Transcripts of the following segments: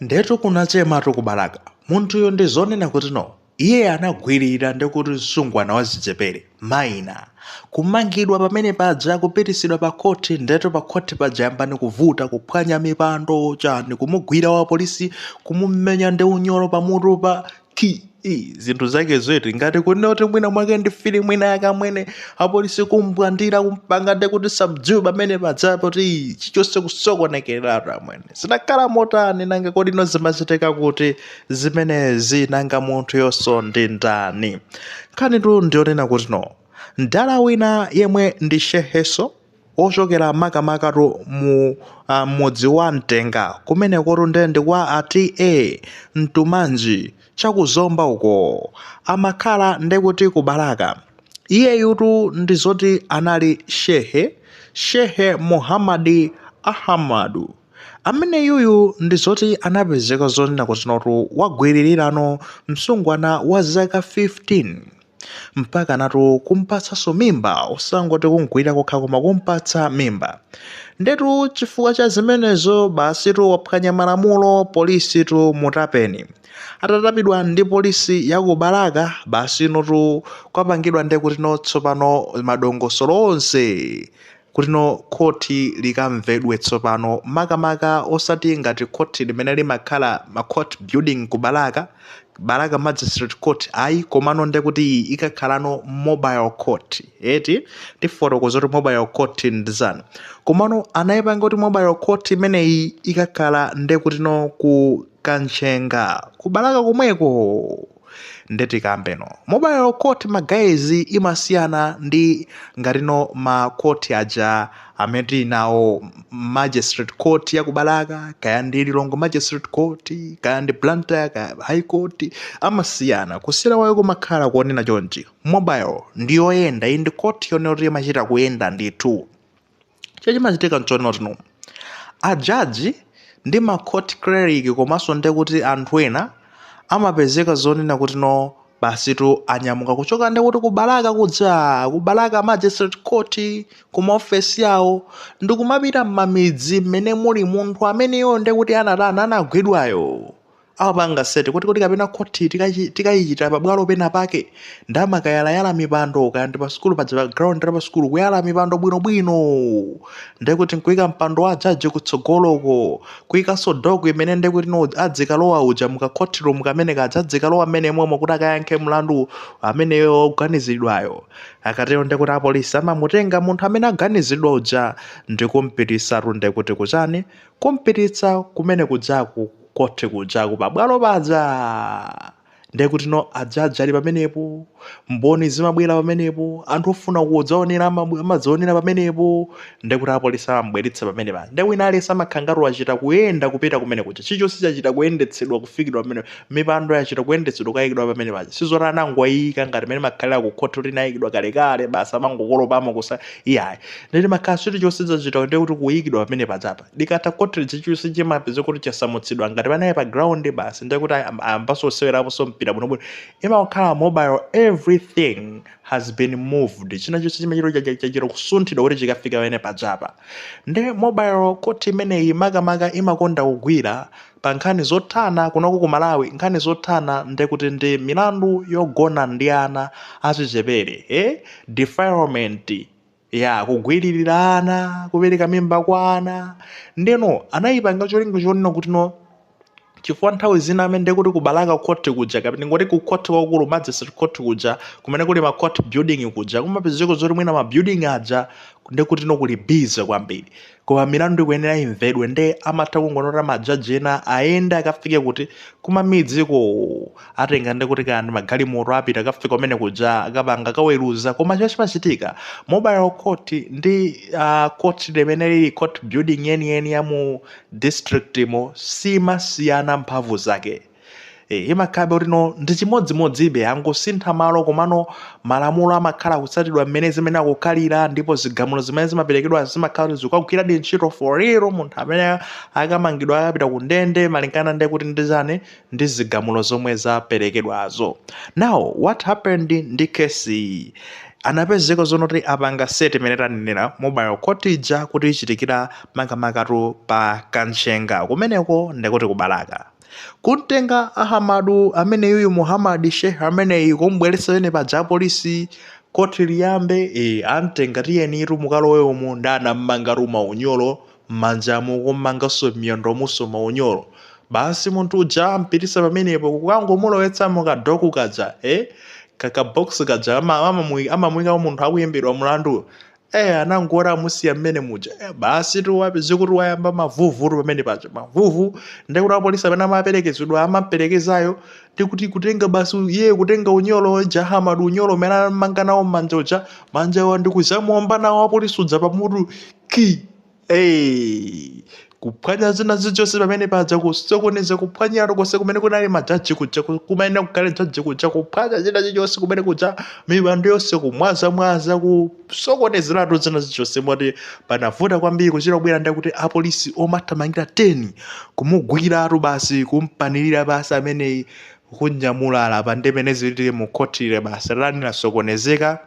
Ndetu kunachematu ku Balaka. Munthuyu ndi zonena kuti no. Iye anagwirira nde kuti msungwana wachichepere, minor. Kumangidwa pamene paja kupititsidwa pa khoti ndetu pa khoti paja yambani kuvuta, kuphwanya mipando, chani, kumugwira wapolisi, kumumenya ndi unyolo pamutupa, kki zinthu zakezo eti ngati kunena kuti mwina mwake ndi filimu ina yake amwene apolisi kumbwandira kumpanga nde kuti subdue pamene padza poti chichonse kusokonekeratu amwene zinakhala motani nanga kodi no zimachitika kuti zimenezi nanga munthuyonso ndi ndani nkhanitu ndiyonena kuti no mdala wina yemwe ndi shehenso ochokera makamakatu mu uh, mudzi wa mtenga kumenekotu nde ndi kwa a TA Mkumanji cha ku Zomba uko amakhala ndekuti ku Balaka iyeyutu ndi zoti anali shehe shehe muhammadi ahamadu amene uyuyu ndi zoti anapezeka zonena kuti notu wagwirira no msungwana wa zaka 15 mpakanatu kumpatsanso mimba osangoti kumgwirira kokha koma kumpatsa mimba ndetu chifukwa cha zimenezo basitu waphwanya malamulo polisitu mutapeni atatapedwa ndi polisi ya ku balaka basi notu kwapangidwa nde kuti no tsopano madongosolo onse kuti no khoti likamvedwe tsopano makamaka osati ngati khoti limene limakhala ma court building ku balaka balaka magistrate court ayi komano nde kuti iyi ikakhalano mobile court eti tifotokoza kuti mobile court ndi chani komano anayipanga kuti mobile court imeneyi ikakhala nde kuti no ku kanchenga ku balaka komweko nde tikambeno mobile court ma guys imasiyana ndi ngatino ma court aja amene tili nawo magistrate court ya kubalaka kaya ndi Lilongwe magistrate court kaya ndi blantyre kaya high court amasiyana kusiyana kwawo kumakhala konena chonchi mobile ndi yoyenda iyi ndi court yonena kuti imachita kuyenda ndithu chimene chimachitika nchonena kuti no ajaji ndi ma court clerk komanso nde kuti anthu ena amapezeka zonena kuti no basitu anyamuka kuchoka nde kuti ku Balaka kudza ku Balaka magistrate court ku maofesi awo ndikumapita m'mamidzi mmene muli munthu ameneyo nde kuti anatani anagwidwayo amapanga set kuti kuti kapena khoti tikachi- tikayichitira pabwalo pena pake ndamakayalayala mipando kaya ndi pa sukulu paja pa ground la pa sukulu kuyala mipando bwinobwino ndiye kuti nkuyika mpando wa jaji kutsogoloko kuyikanso dock imene ndiye kuti no adzikalowa uja muka court room kamene kaja adzikalowa mmene momwe kuti akayankhe mlandu ameneyo woganiziridwayo akatero ndiye kuti apolisi amamutenga munthu amene aganiziridwa uja ndikumpititsatu nde kuti kuchani Kumpititsa kumene kujaku ku court kujaku pa bwalo paja! Ndekutino a judge ali pamenepo, mboni zimabwera pamenepo, anthu ofuna kudzaonerera amabw- amadzaonera pamenepo, ndekuti apolisi amamubweretsa pamene paja. Nde wina aliyense amakhala ngati wachita kuyenda kupita kumene kuja. Chilichonse chachita kuyendetsedwa kuyikidwa pamene, mipando yachita kuyendetsedwa kukayikidwa pamene paja. Sizoti anangoiyika ngati mmene imakhalira ku court kuti inayikidwa kalekale basi amangokolopamo kusa iyayi ndekuti imakhala chilichonse chachita ndekuti kuyikidwa pamene pajapa likatha khoti chilichonse chimapezeka kuti chasamutsidwa ngati panali pa ground basi ndekuti ayambanso kusewerapo so mpira bwino bwino imakhala mobile everything has been moved china chonse chimachita chachita kusunthidwa kuti chikafike pamene pajapa nde mobile khoti imeneyi makamaka imakonda kugwira pa nkhani zothana kunoko ku malawi nkhani zothana ndekuti ndi milandu yogona ndi ana achichepere eh? defilement ya kugwiririra ana kupereka mimba kwa ana ndeno anayipanga cholinga chonena kuti no chifukwa nthawi zina amene ndekuti ku bwalo la khoti kuja kapena tingoti ku khoti kwakukulu magistrate khoti kuja kumene kuli ma court building kuja kumapezeka zoti mwina ma building aja ndekuti no kuli busy kwambiri koma milandu ikuyenera imvedwe nde amatha kungonena kuti majaji ena ayende akafike kuti kumamidziko atenga ndekuti kaya ndi magalimoto apita akafika kumene kuja akapanga kaweruza koma chimene chimachitika mobile court ndi uh, court limene lili court building yeniyeni ya mu district mo simasiyana mphamvu zake E, imakhala kuti no ndi chimodzimodzibe angosintha malo komano malamulo amakhala kutsatidwa mmene zimene akukhalira ndipo zigamulo zimene zimaperekedwa zimakhala kuti zikukagwiradi ntchito for real munthu amene akamangidwa akapita ku ndende malingana ndekuti ndi chani ndi zigamulo zomwe zaperekedwazo now what happened ndi case iyi anapezeka zonoti apanga set imene tanenera mobile court ija kuti ichitikire makamakatu pa kanchenga kumeneko ndekuti kubalaka kumtenga ahamadu amene yuyu muhamadi shehe ameneyi kumubweretsa pamene paja apolisi khoti liyambe e, amtenga tiyenitu mukalowe umu nde anammangatu maunyolo mmanjamu kummanganso m'miyendomunso maunyolo basi munthu uja ampititsa pamenepo kukangomulowetsa mukadoku kaja e, kakabox kaja ama- amamu- amamuyikamo munthu akuyimbidwa mulandu eh anangoona amusiya mmene muja eh, basi timapeza kuti wayamba mavuvutu pamene paja mavuvu ndekuti wapolisi amene amaperekezedwa amaperekezayo ndikuti kutenga basi iye kutenga unyolo uja Ahamadu unyolo umene ammanga nawo mmanja uja manjawa ndikuzamuomba nawo wapolisi uja pamutu ki Hey, kuphwanya zina zichose pamene paja kusokoneza kuphwanyiratu konse kumene kunali majaji kuja ku- kumayenera kukhala jaji kuja kuphwanya zina zichose kumene kuja mipando yonse kumwazamwaza kusokonezeratu zina zichose moti panavuta kwambiri kuchita kubwera ndakuti apolisi omathamangira 10 kumugwiratu basi kumpanirira basi ameneyi kunyamulala apa nde mmene zilili mu khotile basi lani lasokonezeka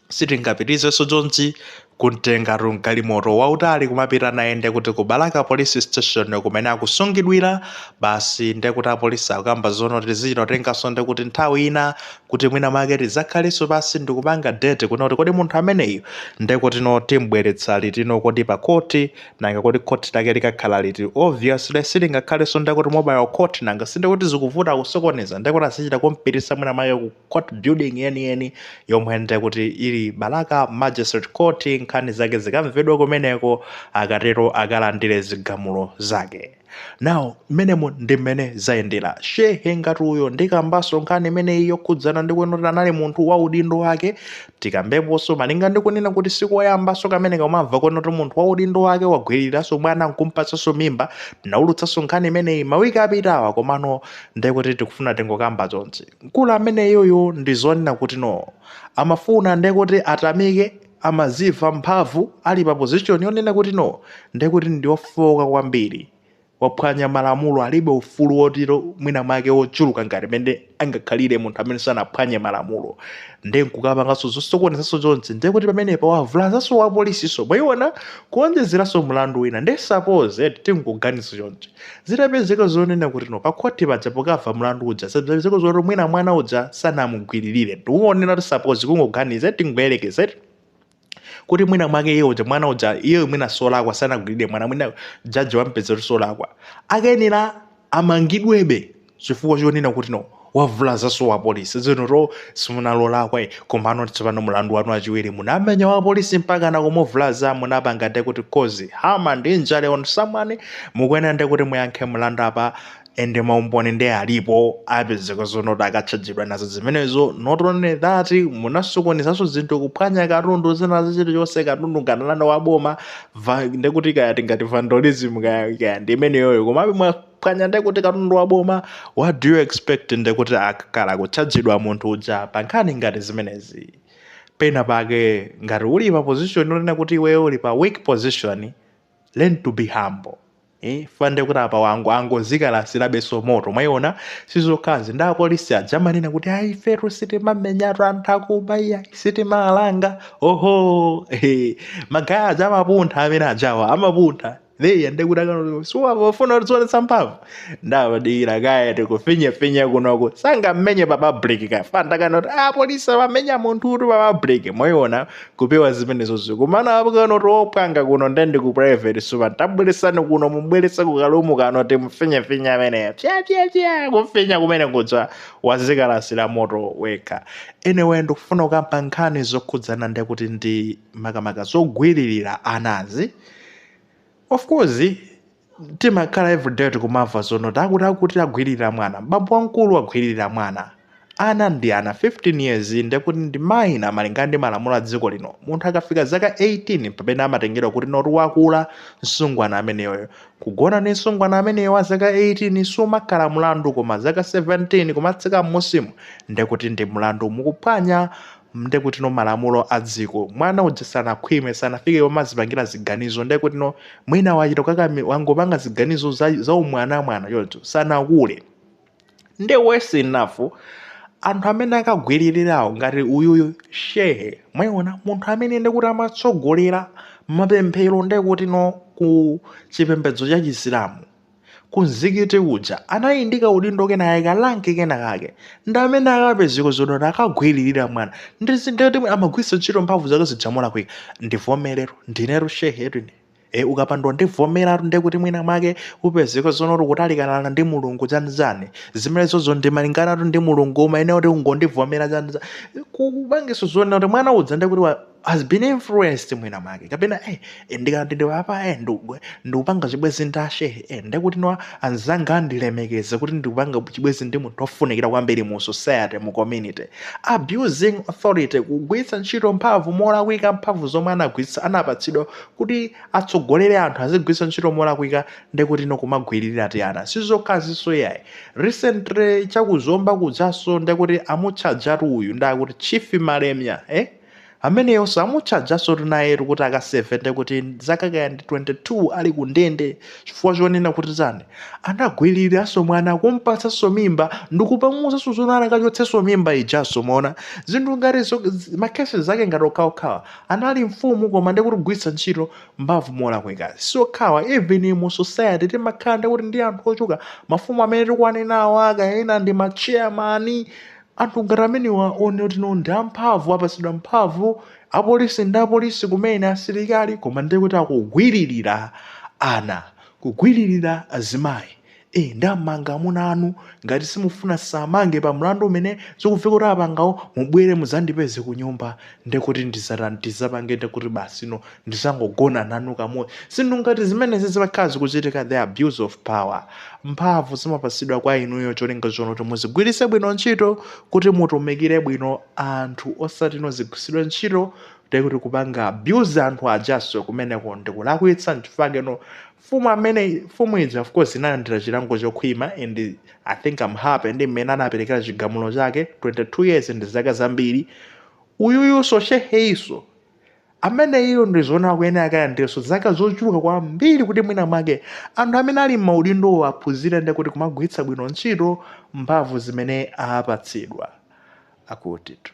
sitingapitizeso chonchi kuntengatu mgalimoto wautali kumapita naye ndekuti ku balaka police station kumene akusungidwira basi ndekuti apolisi akukamba zono tizichita kutengaso ndekuti nthawi ina kuti mwina mwake tizakhaleso pansi ndikupanga date kuno kuti kodi munthu ameneyu ndekuti no timbweretsa litino kodi pa khoti nanga kodi khoti lake likakhala liti obviously silingakhaleso ndekuti mobile court nanga sindekuti zikuvuta kusokoneza ndekuti azichita kumpitisa mwina mwake ku court building yeniyeni yomwe nde kuti ili balaka magistrate court nkhani zake zikamvedwe kumeneko akatero akalandire zigamulo zake nawo mmenemo ndi mmene zayendera shehe ngati uyo ndikambaso nkhani imeneyi yokhudzana ndi kuti anali munthu wa udindo wake tikambeponso malinga ndi kunena kuti sikoyambanso kumene kumamva kuti munthu wa udindo wake wagwiriranso mwana nkumpatsanso mimba tinaulutsanso nkhani imeneyi mawiki apitawa komano ndekuti tikufuna tingokamba zonse Mkulu ameneyuyu ndizonena kuti no amafuna ndekuti atamike amadziwa mphamvu ali pa position yonena kuti no ndekuti ndiofowoka kwambiri waphwanya malamulo alibe ufulu woti mwina mwake wochuluka ngati mmene angakhalire munthu amene sanaphwanye malamulo nde nkukapangaso zosokonezaso chonchi ndekuti pamenepa wavulazaso wapolisiso mwaona kuwonjezeraso mulandu wina nde suppose eti tingoganiza chonchi. Zitapezeka zonena kuti no pakhoti paja pokava mlandu uja zitapezeka zoti mwina mwana uja sanamugwiririre ndikunena kuti suppose kungoganiza tingoyerekeza kuti mwina mwake iye uja mwana uja iye mwina solakwa sanagwiririre mwana mwina jaji wampeza kuti solakwa akayenera amangidwebe chifukwa chonena kuti no wavulazanso wapolisi izi no simunali olakwa komano tsopano mulandu wanu wachiwiri munamenya wapolisi mpaka na kumuvulaza munapanga nde kuti cause harm and injury on someone mukuyenera nde kuti muyankhe mulandu apa ende maumboni nde alipo apezeka zonoti akatchajidwa nazo zimenezo not only that munasokonezanso zinthu kuphwanya katundu china chilichonse katundu nga nanga ndi waboma ndekuti kaya tingati vandalism kaya kaya ndi imeneyoyo komabe mwa pwanya ndekuti katundu wa boma what do you expect ndekuti akakhala kutchajidwa munthu uja pa nkhani ngati zimenezi pena pake ngati uli pa position yonena kuti iweyo uli pa weak position learn to be humble Eh, nde kuti apa wangu angozikalasirabenso moto mwayiona sizokhazi ndi apolisi aja amanena kuti ayi ifetu sitimamenyatu anthu akubawa sitimalanga oho eh, magaya aja amapuntha amene ajawa amapuntha Eya ndekuti akanoti shuwa wafuna kudzionetsa mphamvu. Ndabadira kaya tikufinya finya kunoko. Sangammenye pa public ka. Kanena kuti apolisi amamenya munthu uti pa public. Mwayiona kupewa zimenezozo. Koma apo akanoti opanga kuno ndendi ku private shuwa. Tabweretsani kuno mubweretsa ku kalumu kanoti timufinya finya ameneyo. Pya pya pya kufinya kumene kuja wazikalasira moto wekha. Anyway ndikufuna kukamba nkhani zokhudzana ndekuti ndi makamaka zogwiririra anazi. of course timakhala everyday tikumamva zonoti akuti akuti agwirira mwana bambo wamkulu agwiririra mwana ana ndi ana 15 years ndekuti ndi maina malingana ndi malamulo a dziko lino munthu akafika zaka 18 mpamene amatengedwa kuti noti wakula msungwana ameneyoyo kugona ndi msungwana ameneyo wa zaka 18 sumakhala mlandu koma zaka 17 kumatsika m'munsimu ndekuti ndi mlandu mukuphwanya ndekutino malamulo adziko mwana uja sanakhwime sanafike pomazipangila ziganizo ndekutino mwina wachita kukakami- wangopanga ziganizo za, za umwanamwana choncho sanakule nde worse enough anthu amene akagwiririrawo ngati uyuyu shehe mwayiona munthu amene ndekuti amatsogolera mapemphero ndekutino ku chipembedzo cha chisilamu ku mzikiti uja anali ndi kaudindo kenakake karank kenakake ndi amene akapezeka zonoti akagwiririra mwana ndi zonoti amagwiritsa ntchito mphamvu zake zija molakwika ndivomere ndinetu shehetu ine e ukapanda kundivomeratu ndi kuti mwina mwake upezeka zonoti kutalikana ndi mulungu chanichani zimenezozo ndimayimbanatu ndi mulungu umayenera kuti ungondivomera chanichani kupangitsa zonena kuti mwana uja ndi kuti wa- has been influenced mwina mwake kapena eh, eh, ndikati ndiyepe eh, ndikugwe- ndikupanga chibwezi ndi ashehe eh, ndikuti no anzanga andilemekeze kuti ndikupanga chibwezi ndi munthu ofunikira kwambiri mu society mu community abusing authority kugwiritsa ntchito mphamvu molakwika mphamvu zomwe anagwiritsa anapatsidwa kuti atsogolere anthu azigwiritsa ntchito molakwika ndikuti no kumagwiririra tiana sizokhaziso yayi recently chakuzomba kujanso ndikuti amutchajatu uyu ndakuti chief malemya eh? ameneyo samutchajasotu nayetu kuti akaseve nde kuti zaka kaya ndi 22 ali ku ndende chifukwa chonena kuti tani anagwiriraso mwana kumpatsaso mimba ndikupamuzaso zonena akachotseso mimba ijaso mona zinthu ngati zo- zi- makesi zake ngati okhaokhawa anali mfumu koma nde kuti kugwiritsa ntchito mphamvu molakwika si okhawa even mu society timakhala nde kuti ndi anthu ochuka mafumu amene tikuwanenawo kaya ena ndi macheyamani Anthu ngati amenewa onena kuti no ndi amphamvu, apatsidwa mphamvu, apolisi ndi apolisi kumene, asilikali, koma ndiye kuti akugwiririra ana, kugwiririra azimayi. E, ndamanga amuna anu, ngati simufuna asamangidwe pa mlandu umene zikubveka kuti apangawo, mubwere mudzandipeze kunyumba, ndiye kuti ndizatani, tizapange ndiye kuti basi no, ndizangogona nanu kamodzi zinthu ngati zimenezi zimakhala zikuchitika the abuse of power mphamvu zimapatsidwa kwa inuyo cholinga choti muzigwiritse bwino ntchito kuti mutumikire bwino anthu osati no zigwiritsidwe ntchito ndekuti kupanga abuse anthu ajaso kumeneko ndikulakwitsa nchifukwa chake no fumu amene fumu ija of course inalandira chilango chokhwima and i think am happy ndi mmene anaperekera chigamulo chake 22 years ndi zaka zambiri uyuyuso sheheiso ameneyo ndikuona akuyenera akalandirenso zaka zochuluka kwambiri kuti mwina mwake anthu amene ali m'maudindowo aphunzire nde kuti kumagwiritsa bwino ntchito mphamvu zimene apatsidwa akutitu